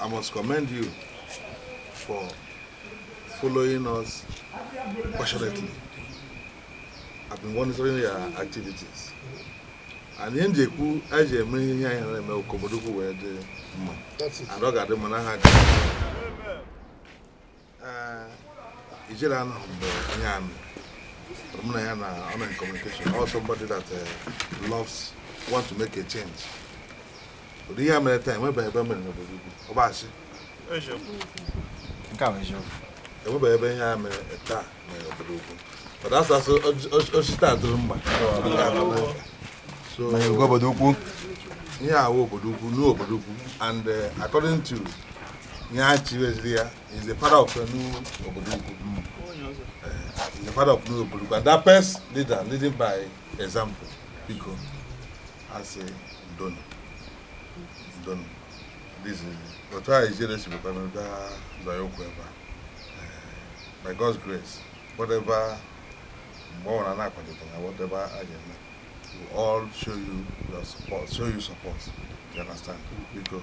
I must commend you for following us passionately. I've been monitoring your activities. And ihe m ji ekwu anyị ji eme ihe anyị na-eme ọ ka obodo ukwu wee dị mma and ọ ga-adị mma n'aha Ijele a nọ mgbe onye a mụ na ya na-anọ in communication or somebody that uh, loves want to make a change ụdị ihe a mere taa enwebeghị ebe o mere n'obodo ukwu ọ bụ asị ka ọ bụ eziokwu enwebeghị ebe ihe a mere taa mere n'obodo ukwu mana a sị a sị o si taa dịrị mma so obodo ukwu ihe a wụ obodo ukwu n'obodo ukwu and uh, according to ihe a chiweziri ya is the father of Enu obodo ukwu is the father of Enu obodo ukwu and that best leader leading by example biko asị ndo nụ ndo nụ this is otu a Ijele si bụkwa na ụda zọọ ụkwụ ebe a Eh, by God's grace whatever mgbe ọ bụla na-akwadebe na whatever a ga-eme we all show you your support show you support you understand biko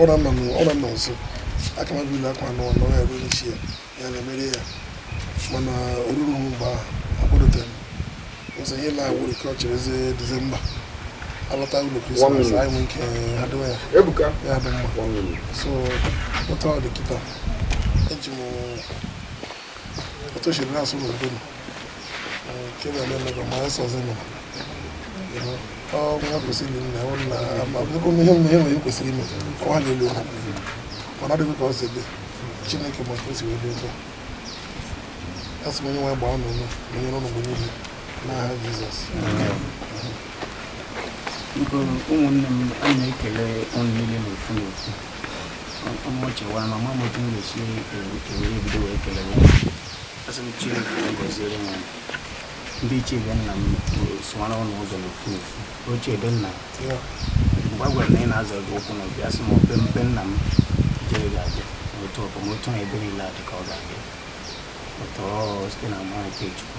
ọra nọ nụ- ọra nọ nso aka mmadụ ile akwa anọ nọ ya ruo n'isi ya ya na-emere ya mana oruru hụ mgbe ahụ akwadotere m ụzọ ihe na ọ bụrụ ka ọ cherezie dizemba a lọta ụlọ krismas anyị nwee ike adịwa ya ebuka ya dị mma so otu ọ dị kịta eji m otu si na-asụ n'udo m nke na eme mebe ma esọzi m ọ nwa kwesịrị nna ọ na ama bụrụ ihe m ihe nwere kwesịrị ime ọ ha na-elu okwu mana ọ dịghị ka ọ si dị chineke ma ka o si wee dị ụtọ asị m onye nwe gbaa n'ụlọ onye n'ụlọ mgbe niile n'aha jizọs ụmụnne m a na-ekele ụnụ niile n'ofu n'ofu m chewa na amaghị m otu m ga-esi ewere ebido wee kele ya asị m chineke gọziere m ndị ichie be nna m sụwara ụlọ ụzọ n'ofu n'ofu ochie ebe nna mgbe a gwara na ị na-azọ gị ụkwụ n'obi asị m obe mpe nna m jere gị abịa otu ọbụ m otu ahụ ebe niile adị ka ọ ga-adị ụtọ site n'amara nke chukwu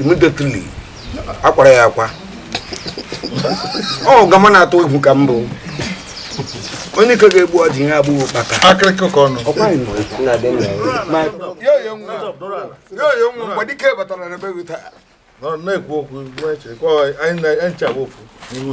immediately akwara ya akwa ọ gama na-atụ egwu ka mbụ onye ike ga-egbu ọjị ihe agbụghị ụkpaka akịrịkọ ka ọnụ mgbadike batara na be gị taa na-ekwu okwu anyị ncha ofu n'ihu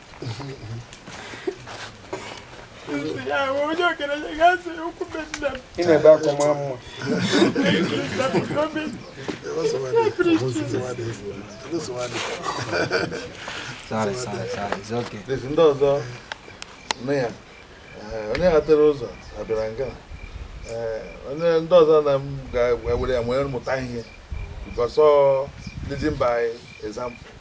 ị na-ebe akwa mara mma Sorry, sorry, sorry. It's okay. Please, ndị ọzọ nne ya eh, onye ghatara ụzọ abịara nga Eh, onye ndị ọzọ na m ga-ewere ya nwere mụta ihe because ọ leading by example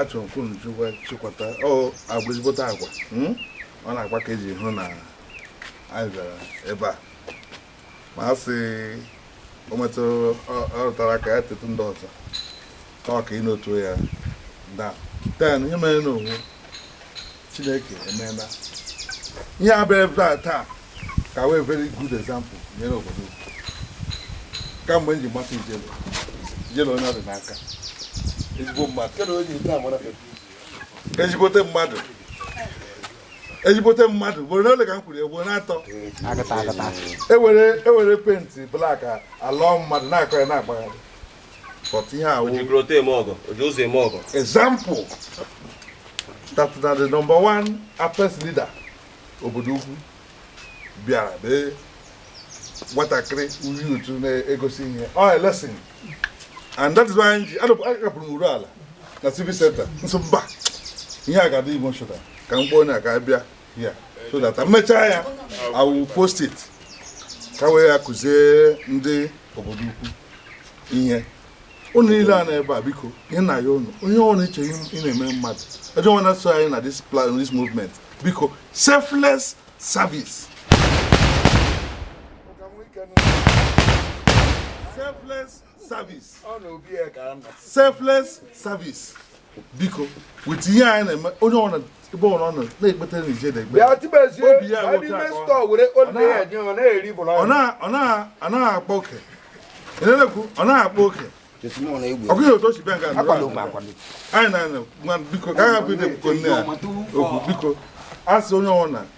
achọrọ m ka unu chukwa chịkwata ọ agwa ezigbote agwa hmm? ọ n'agwa ka e ji hụ na anyị bịara ebe a ma a sị o metụ ọ rụtara ka ya tetụ ndị ọzọ ka ọ ka ịnotuo ya da ten ihe mere n'onwe Chineke emeela ihe abịa ebe a taa ka wee very good example nyere obodo kamgbe m ji mata ijele ijele onye ọdị n'aka ezigbo mmadụ ezigbote mmadụ ezigbote mmadụ ugboro ole ka m kwuru ugboro atọ ewere paint black alọọ mmadụ na-akọ ya na-agbagharị but ihe a wụ ojikọrọta eme ọgọ oji ụzọ eme ọgọ example taata na the number one apex leader obodo ukwu bịara bee nwatakịrị uyi utu na-egosi ihe ọ oh, lesson and that is why anyị ji akapụrụ n'Urualla na civic center m sị mba ihe a ga-adị emotional ka m kpọọ onye a ka bịa ya so that e mechaa ya I will post it ka e were ya kụzie ndị obodo ukwu ihe unu niile a nọ ebe a biko ihe na ya unu onye ọrụ iche ị na-eme mmadụ ọjọọ nwana so anyị na this plan this movement biko selfless service selfless service selfless service biko wit ihe anyị na-eme onye ọbụla ebe ọbụla ọ nọ na-ekpeta na ije na-ekpe obi ya ọ naghị akpa oke a na-ekwu ọ naghị akpa oke ọkụ ihe otu o si bịa nga anyị na biko ka agha bụ ide biko nne ya okwu biko asị onye ọbụla